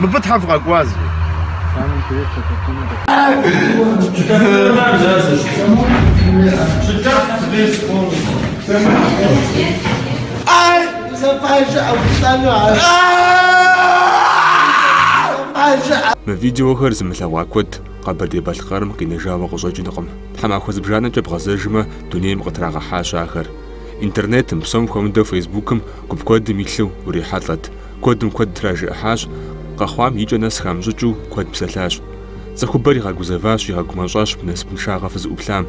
Мыбы тхьэ фыкъэкӏуа зи? Ай, зэпажэ ӏэпцӏэну ар. Зэпажэ Мы видеохэр зымылъэгъуа куэд Къэбэрдей-Балъкъэрым къинэжауэ къыщӏэкӏынкъым. Тхьэмахуэ зыбжанэкӏэ бгъэзэжмэ, дунейм къытрагъэхьащ ахэр. Интернетым, псом хуэмыдэу фейсбукым гуп куэдым илъу урихьэлӏэт. Куэдым куэд тражыӏыхьащ, къэхъуам и кӏэ нэс хамыщӏыкӏыу куэд псэлъащ. Цӏыхубэр игъэгузэващ, игъэгумэщӏащ мы насыпыншагъэ фызыӏуплъам.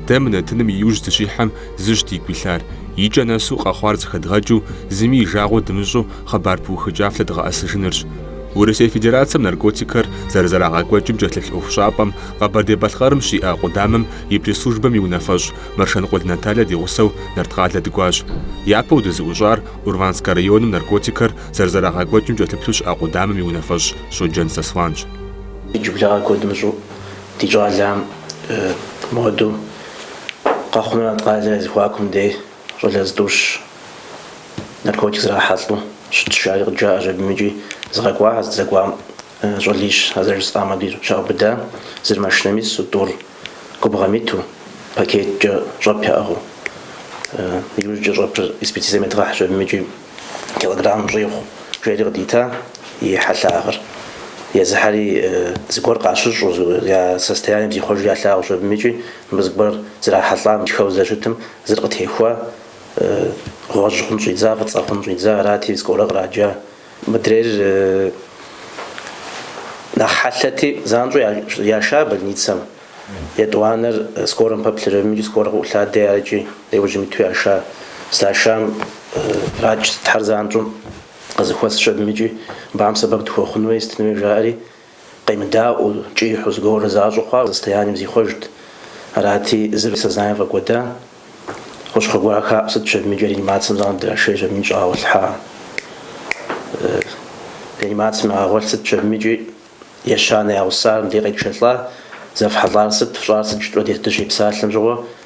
Дэ мы нэтыным и ужь дыщихьэм зыщ дигу илъар, и кӏэ нэсу къэхъуар зэхэдгъэкӏыу, зыми и жагъуэ дымыщӏу хъыбар пыухыкӏа флъэдгъэӏэсыжынырщ. Урысей Федерацэм наркотикхэр зэрызэрагъэкӏуэкӏым кӏэлъыплъ ӏуэхущӏапӏэм Къэбэрдей-Балъкъэрым щиӏэ Къудамэм и пресс-службэм и унафэщӏ Мэршэнкъул Наталье ди гъусэу Нарткъалэ дыкӏуащ. Япэу дызыӏущӏар Урванскэ районым наркотикхэр зэрызэрагъэкӏуэкӏым кӏэлъыплъу щыӏэ къудамэм и унафэщӏ Щоджэн Сослъанщ. Иджыблагъэ куэд мыщӏу ди щӏалэм моду Къэхъунрэ Нарткъалэ зэхуакум дей щӏалэ зытӏущ наркотик зрахьэлӏэу щытщ, жаӏэри къыджаӏэщ абым икӏи згъэкӏуа, а здэкӏуам щӏалищ, а зэрыжысӏам дей щаубыда, зыр машинэм ису, тӏур. Губгъуэм иту, пакеткӏэ щӏэп яӏыгъыу. Иужькӏэ щӏэпыр экспертизэм едгъэхьщ, абым икӏи килограмм щӏигъу, жери къыдита и хьэлъагъыр. Езыхэри зыгуэр къащыщӏу, я состоянием зихъуэжу ялъагъущ, абым икӏи мыбы зыгуэр зрахьэлӏам хуэдэу здэщытым зыр къытехуа, гъуэжь хъун щӏидза, фӏыцӏэ хъун щӏидза арати, скорэ къраджа. Мыдрейр нэхъ хьэлъэти, занщӏэу яша больницэм. Етӏуанэр скорэм пэплъэщ абым икӏи скорэ къыӏулъадэ икӏи, ари иужьым иту яша. Здашам врач сытхэр занщӏэу къызыхуэсщ абым икӏи, абым сэбэп дыхуэхъун хуей, сытын хуей жаӏэри, Къемыдаӏуэу, кӏыхьу зыгуэру защӏу хъуа, я состоянием зихъуэжт. Арати, зыр сознанием фӏэкӏуэда. Хущхъуэ гуэрхэр хаӏу сытщ абым икӏи реанимацэм занщӏэу драшейщ абым икӏи щӏагъэгъуэлъхьа. Реанимацэм ягъэгъуэлъ сытщ абым икӏи, ещанэ я гъусар мыбдеж къетшэлӏа, зефхьэлӏар сыт, фщӏар сыт жытӏурэ дэ дыщепсалъэм щыгъуэ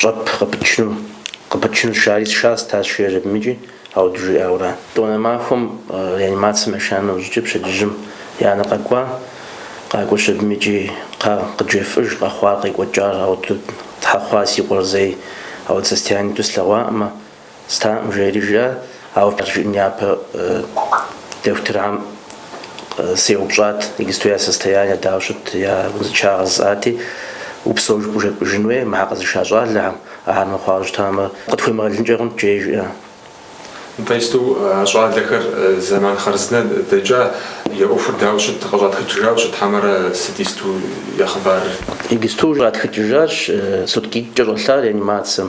Щӏэп къыпычыну, къыпычыну сшари сшащ, тащ, жиӏэщ абым икӏи ауду жиӏауэра. Етӏуанэ махуэм реанимацэм яша нэужькӏэ пщэдджыжьым и анэ къэкӏуа, къакӏуэщ абым икӏи кхъа къыджефӏэж, къэхъуар къекӏуэкӏар ауду щхьэ хъуа си къуэр зэи ауэдэ состоянием иту слъэгъуакъымэ. Стам жери жиӏэ, ауэ фӏыщӏэ жиӏэм япэ дохутырхэм сеупщӏат, иджыпсту я состояние дауэ щыт, я узыншагъэ жысӏати, упсэу жыпӏэу жепӏыжын хуей мыхэр къэзыша щӏалэхэм, ахэр мыхъуауэ щытамэ, къытхуемыгъэлынкӏэ хъунт, жери жиӏэ. Нтӏэ, иджыпсту а щӏалэхэр зэман хъарзынэ дэкӏа, я ӏуэхур дауэ щыт, къыщӏатхыкӏыжауэ щыт хьэмэрэ сыт иджыпсту я хъыбарыр? Иджыпсту щӏатхыкӏыжащ суткитӏкӏэ щӏэлъа реанимацэм,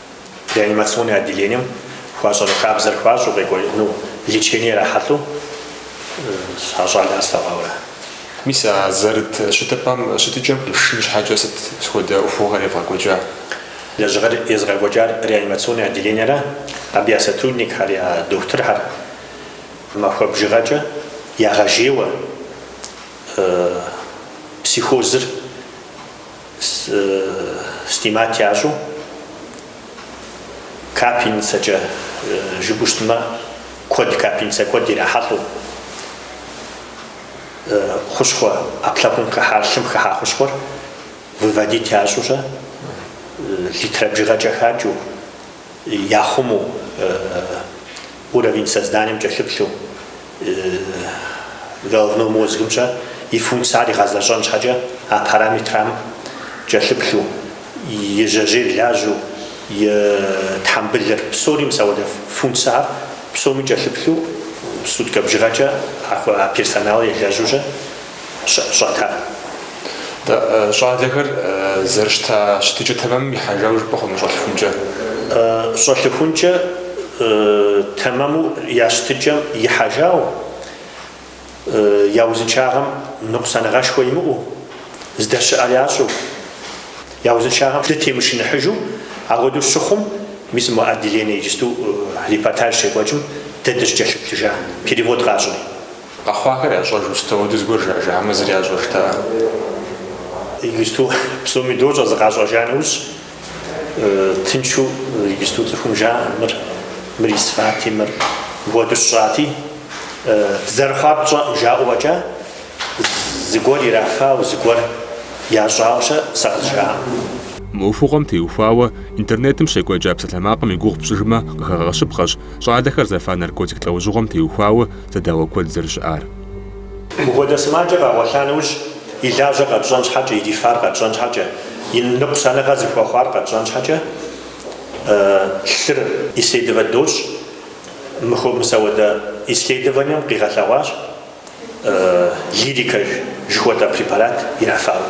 реанимационнэ отделением хуащӏэну хабзэр хуащӏу къекӏуэну лечение ирахьэлӏэу а щӏалэхэр слъэгъуауэ. Мис а зэрыт щытыпӏэм щытыкӏэм къишын щхьэкӏэ сыт хуэдэ ӏуэхугъуэхэр евгъэкӏуэкӏа? Лэжьыгъэр езыгъэкӏуэкӏар реанимационнэ отделениерэ абы я сотрудникхэр, я дохутырхэр махуэ бжыгъэкӏэ ягъэжейуэ психозыр, Снимать ящӏу капельницэкӏэ жыпӏэу щытмэ, куэд капельницэ куэд ирахьэлӏэу хущхъуэ ӏэпкълъэпкъым хыхьар, лъым хыхьа хущхъуэр выводить ящӏэурэ, литрэ бжыгъэкӏэ хакӏыу. яхъуму, уровень сознанием кӏэлъыплъу, головной мозгым-щэ и функцияр игъэзэщӏэн щхьэкӏэ а параметрхэм кӏэлъыплъу, и жьэжьейр лажьэу, и тхьэмбылыр, псори мис апхуэдэ функцияхэр псоми кӏэлъыплъу, суткэ бжыгъэкӏэ а персоналыр елэжьу щыӏэ. щӏэта. Щӏалэхэр зэрыщыта щытыкӏэ тэмэмым ихьэжауэ жыпӏэ хъуну щӏэлъыхункӏэ? Щӏэлъыхункӏэ тэмэму я щытыкӏэм ихьэжауэ, я узыншагъэм ныкъусаныгъэшхуэ имыӏэу, здэщыӏэр ящӏэу, я узыншагъэм дытемышыныхьыжу, апхуэдэу щыхъум, мис мы отделение иджысту репортаж щекӏуэкӏым дэ дыщыкӏэлъыплъыжа, перевод къащӏри. Къэхъуахэр ящӏэжу сыт хуэдэ зыгуэр жаӏэжа хьэмэ зыри ящӏэжтэкъым. Иджысту псоми дощӏэ зыкъащӏэжа нэужь, тыншу иджысту цӏыхум жаӏэ, мыр, мыр исфати, мыр мыпхуэдэу сщӏати, дызэрыхъуар тщӏэкъым жаӏэу фӏэкӏа, зыгуэр ирафауэ, зыгуэр ящӏауэ-щэ сэ къызжаӏэкъым. Мы ӏуэхугъуэм теухуауэ интернетым щекӏуэкӏа псалъэмакъым и гугъу пщӏыжмэ къыхэгъэщыпхъэщ, щӏалэхэр зэфа наркотик лӏэужьыгъуэм теухуауэ, зэдауэ куэд зэрыщыӏар. Мыпхуэдэ сымаджэ къэгъуэлъа нэужь, и лажьэр къэтщӏэн щхьэкӏэ, ирифар къэтщӏэн щхьэкӏэ, и ныкъусаныгъэр зыхуэхъуар къэтщӏэн щхьэкӏэ, лъыр исследовать дощӏ. Мы, мис апхуэдэ исследованием къигъэлъэгъуащ Лирикэ жыхуэтӏэ препарат ирафауэ.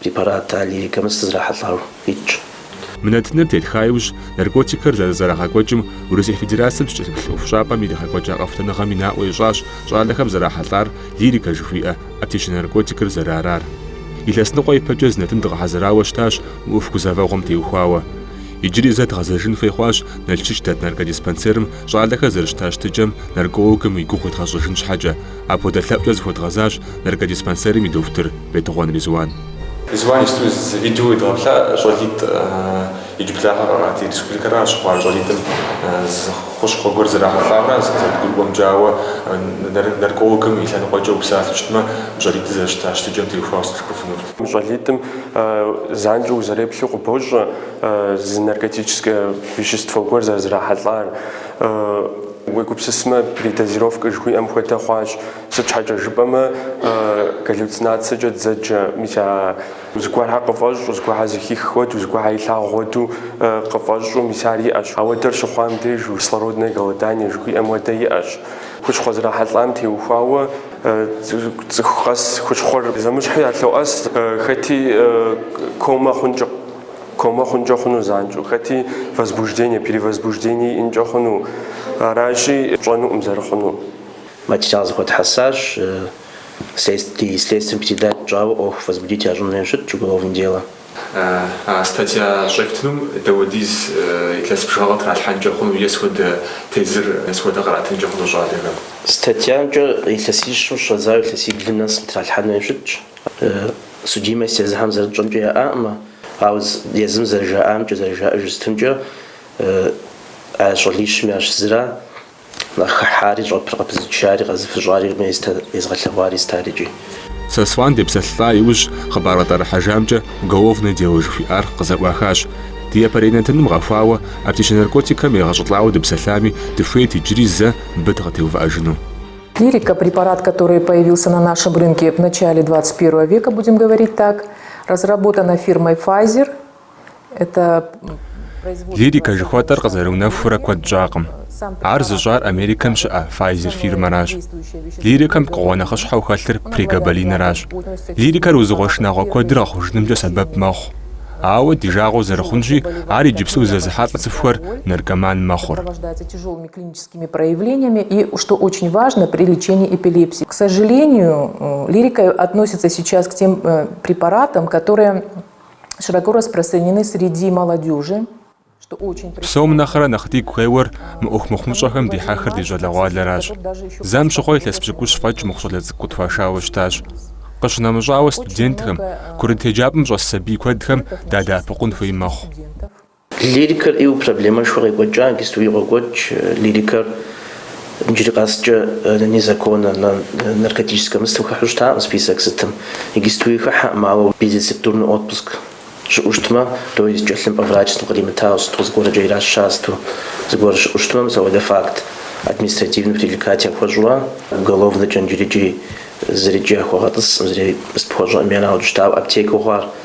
Препарат а лирикэмэ зэрызэрахьэлӏар къитщ. Мы нэтыныр тетха иужь, наркотикхэр зэрызэрагъэкӏуэкӏым Урысей Федерацэм щыкӏэлъыплъ ӏуэхущӏапӏэм иригъэкӏуэкӏа къэхутэныгъэми наӏуэ ищӏащ щӏалэхэм зэрахьэлӏар лирикэ жыхуиӏэ аптечнэ наркотикыр зэрыарар. Илъэсныкъуэ ипэкӏэ зы нэтын дгъэхьэзырауэ щытащ мы ӏуэху гузэвэгъуэм теухуауэ. Иджыри зэ дгъэзэжын хуей хъуащ Налшыч дэт наркодиспансерым щӏалэхэр зэрыщыта щытыкӏэм наркологым и гугъу едгъэщӏыжын щхьэкӏэ, Апхуэдэ лъэӏукӏэ зыхуэдгъэзащ наркодиспансерым и дохутыр Бетыгъуэн Ризуан. Ризуан иджыпсту зы видео уедгъэплъа щӏалитӏ иджыблагъэ къэхъуа, ди республикэра щыхъуар, щӏалитӏым зы хущхъуэ гуэр зэрахьэлӏауэ зэрыдгурыӏуэмкӏэ, ауэ наркологым и лъэныкъуэкӏэ упсалъэу щытмэ, мы щӏалитӏыр зэрыщыта щытыкӏэм теухуауэ сыт къыджепӏэфынур. Мы щӏалитӏым занщӏэу узэреплъу къыбощӏэ зы наркотическэ вещество гуэр зэрызэрахьэлӏар. Уегупсысмэ, передозировкэ жыхуиӏэм хуэдэ хъуащ, сыт щхьэкӏэ жыпӏэмэ галлюцинацэкӏэ дзэджэ, мис а зыгуэрхэр къыфӏэщӏу, зыгуэрхэр зыхих хуэдэу, зыгуэрхэр илъагъу хуэдэу къыфӏэщӏу, мис ар иӏэщ. Ауэдэр щыхъуам деж кислородное голодание жыхуиӏэм хуэдэ иӏэщ. Хущхъуэ зэрахьэлӏам теухуауэ цӏыху къэс хущхъуэр зэмыщхьу ялъоӏэс, хэти комэ хъункӏэ. Комэ хъункӏэ хъуну занщӏэу, хэти возбуждение, перевозбуждение иӏэнкӏэ хъуну, аращи, пщӏэнукъым зэрыхъунур. Материал зэхуэтхьэсащ, ди следствием передать тщӏауэ ӏуэху возбудить ящӏын хуейуэ щытщ уголовное дело. А статья щӏефтынум дауэдиз илъэс бжыгъэ къытралъхьэнкӏэ хъуну е сыт хуэдэ тезыр е сыт хуэдэ къратынкӏэ хъуну щӏалэхэм? Статьямкӏэ илъэсищым щӏэдзауэ илъэсиблым нэс къытралъхьэн хуейуэ щытщ. Судимость езыхэм зэрытщӏэмкӏэ яӏакъым, ауэ езым зэрыжаӏамкӏэ, зэрыжаӏэж щытымкӏэ а щӏалищым ящыщ зыра нэхъ хыхьари, щӏэпыр къыпызычари, къэзыфыщӏари, езыгъэлъэгъуари зытарикӏи. Сослан депсэлъа иужь хъыбар къытӏэрыхьэжамкӏэ уголовное дело жыхуиӏар къызэӏуахащ. Ди япэрей нэтыным гъэхуауэ аптечнэ наркотикхэм егъэщӏылӏауэ дыпсэлъами, дыхуейт иджыри зэ мыбы дыкъытеувыӏэжыну. Лирика, препарат, который появился на нашем рынке в начале 21 века, будем говорить так, разработана фирмой Pfizer. Это Лирика жыхуэтӏэр къызэрыунэхурэ куэд щӏакъым. Ар зыщӏар Америкэм щыӏэ Pfizer фирмэращ. Лирикэм пкъыгъуэ нэхъыщхьэу хэлъыр прегабалинращ. Лирикэр узыгъуэ шынагъуэ куэдыр гъэхъужынымкӏэ сэбэп мэхъу. Ауэ, ди жагъуэу зэрыхъунщи, ар иджыпсту зэзыхьэлӏэ цӏыхухэр наркоман мэхъур. этими проявлениями, и, что очень важно при лечении эпилепсии. К сожалению, э, лирика относится сейчас к тем э, препаратам, которые широко распространены среди молодежи, что очень... Псом нэхърэ нэхъ дигу къеуэр мы ӏуэху мыхъумыщӏэхэм дихьэхыр ди щӏалэгъуалэращ. Зэм щыхъуэ илъэс пщыкӏущ фӏэкӏ мыхъу щӏалэ цӏыкӏу къытхуашауэ щытащ. Къыщынэмыщӏауэ студентхэм, курыт еджапӏэм щӏэс сабий куэдхэм дадэӏэпыкъун хуей мэхъу. Лирикэр ӏейуэ проблемэшхуэ къекӏуэкӏа иджыстуи къокӏуэкӏ. Лирикэр иджыри къэскӏэ незаконнэ, наркотическэ мыстым хыхьу щытакъым список сытым. Иджыстуи хыхьэкъым, ауэ безрецептурный отпуск щыӏэу щытмэ, то есть тхылъымпӏэ врач сытым къримытауэ сыту зыгуэркӏэ ираща сыту зыгуэр щыӏэу щытмэ, мис апхуэдэ факт административнэ привлекать яхуэщӏурэ, уголовнэкӏэ иджыри икӏи зыри икӏи яхуэгъэтӏысӏым, зыри къыспыхуэщӏэӏым, ерагъыу дыщытауэ аптекэу хъуар.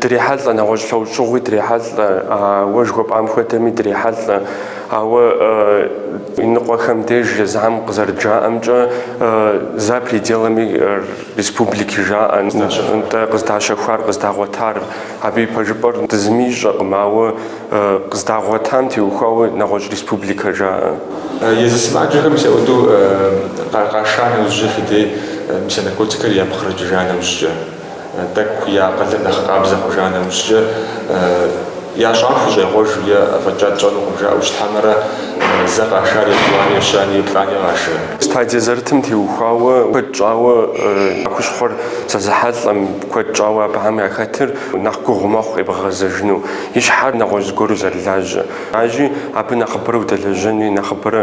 Дрехьэлӏэ, нэгъуэщӏ лъэужьыгъуи дрехьэлӏэ, ауэ жыхуэпӏам хуэдэми дрехьэлӏэ. Ауэ иныкъуэхэм деж езыхьэм къызэрыджаӏэмкӏэ, за пределами республики жаӏэ. Нтӏэ, къыздащэхуар, къыздагъуэтар, абы и пэжыпӏэр зыми ищӏэкъым, ауэ къыздагъуэтам теухуауэ нэгъуэщӏ республикэ жаӏэ. Езы сымаджэхэм мис ауэдэу къаша нэужькӏэ, фи дей мис а наркотикхэр япкърыкӏыжа нэужькӏэ. Тӏэкӏу я акъылыр нэхъ къабзэ хъужа нэужькӏэ, ящӏам хущӏегъуэж е афӏэкӏа тщӏэнукъым жаӏэу щытхьэмэрэ, зэ къашар етӏуани, ещани, еплӏани къашэ. Стадие зэрытым теухуауэ куэд щӏауэ а хущхъуэр зэзыхьэлӏэм, куэд щӏауэ абыхэм яхэтыр нэхъ гугъу мэхъу къебгъэгъэзэжыну, и щхьэр нэгъуэщӏ зыгуэру зэрылажьэ. Ажи, абы нэхъыбэрэ удэлэжьэнуи, нэхъыбэрэ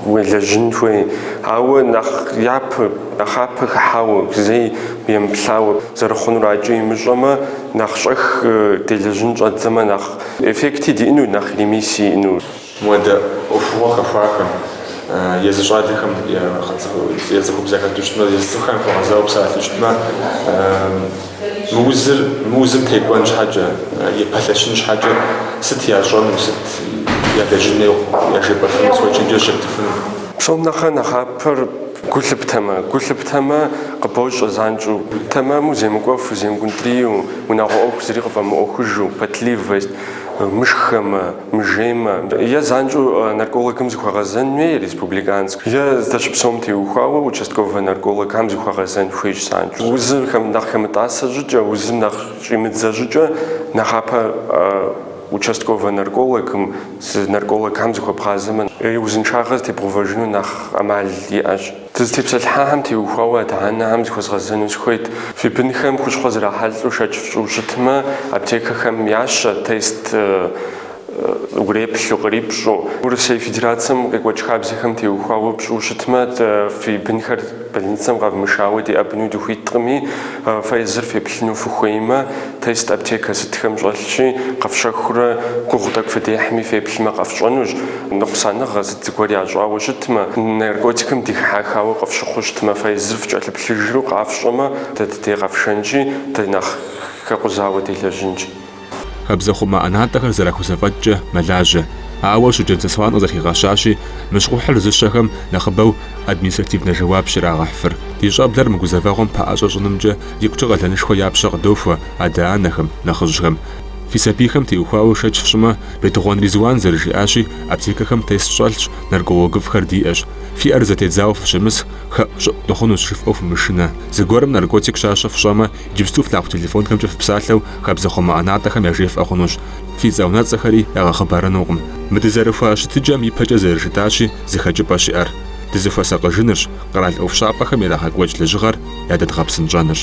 уелэжьын хуей, ауэ нэхъ япэ. Нэхъапэ хыхьауэ, зэи емыплъауэ, зэрыхъунур акӏэ имыщӏэмэ, нэхъ щӏэх делэжьын щӏэддзэмэ, нэхъ эффекти диӏэну, нэхъ ремиссии иӏэну. Муэдэ ӏуэхугъуэ хэхуахэм, езы щӏалэхэм е цӏыхубз яхэту щытмэ, езы цӏыхухэм яхуэгъэзауэ псалъэу щытмэ, мы узыр, мы узым текӏуэн щхьэкӏэ, епэлъэщын щхьэкӏэ сыт ящӏэну, сыт ялэжьын хуей, яжепӏэфыну, сыт чэнджэщ ептыфыну. Псом нэхърэ нэхъапэр. Гу лъыптэмэ, гу лъыптэмэ, къыбощӏэ занщӏэу. Тэмэму земыкӏуэфу, земгунтӏрийу, унагъуэ ӏуэху зыри къыфӏэмыӏуэхужу, потливость, мышхэмэ, мыжеймэ, е занщӏэу наркологым зыхуэгъэзэн хуей, республиканск, е здэщыпсэум теухуауэ участковэ наркологхэм зыхуэгъэзэн хуейщ занщӏэу. Узыр нэхъ хэмытӏасэ щӏыкӏэ, узым нэхъ щӏимыдзэ щӏыкӏэ нэхъапэ участковэ наркологым Зы наркологхэм зыхуэбгъазэмэ, и узыншагъэр зэтебгъэувэжыну нэхъ ӏэмал иӏэщ. Дызытепсэлъыхьахэм теухуауэ адэ-анэхэм зыхуэзгъэзэну сыхуейт. Фи бынхэм хущхъуэ зрахьэлӏэу шэч фщӏу щытмэ, аптекэхэм ящэ тест уреплъу, кърипщӏэу. Урысей Федерацэм къекӏуэкӏ хабзэхэм теухуауэ пщӏу щытмэ, дэ фи бынхэр Больницэм къэвмышауэ деӏэбыну дыхуиткъыми, фэ езыр феплъыну фыхуеймэ, тест аптекэ сытхэм щӏэлъщи, къэфщэхурэ гугъу тӏэкӏу фыдехьми феплъмэ къэфщӏэнущ. Ныкъусаныгъэ сыт зыгуэр ящӏауэ щытмэ, наркотикым дихьэхауэ къыфщыхъуу щытмэ, фэ езыр фыкӏэлъыплъыжу къэфщӏэмэ, дэ ди деж къэфшэнщи, дэ нэхъ хэкъузауэ делэжьынщ. Хабзэхъумэ ӏэнатӏэхэр зэрахузэфӏэкӏкӏэ мэлажьэ. Ауэ Щоджэн Сослан къызэрхигъэщащи, мы щхъухьыр зыщэхэм нэхъыбэу административнэ жэуапщ ирагъэхьыфыр. Ди щӏэблэр мы гузэвэгъуэм пэӏэщӏэ щӏынымкӏэ икӏукӏэ къалэнышхуэ я пщэ къыдохуэ адэ-анэхэм, нэхъыжьхэм. Фи сабийхэм теухуауэ шэч фщӏымэ, Бетыгъуэн Ризуан зэрыжиӏащи, аптекэхэм тест щӏэлъщ, наркологыфӏхэр диӏэщ. Фи ӏэр зэтедзауэ фыщымысх, хэӏущӏыӏу дыхъунущ жыфӏэу фымышынэ. Зыгуэрым наркотик щащэ фщӏэмэ, Иджыпсту флъагъу телефонхэмкӏэ фыпсалъэу хабзэхъумэ ӏэнатӏэхэм яжефӏэ хъунущ. Фи цӏэ-унэцӏэхэри ягъэхъыбарынукъым. Мы дызэрыхуа щытыкӏэм ипэкӏэ зэрыжытӏащи, зы хэкӏыпӏэ щыӏэр, дызыхуэсакъыжынырщ, къэрал ӏуэхущӏапӏэхэм ирагъэкӏуэкӏ лэжьыгъэр ядэдгъэпсынщӏэнырщ.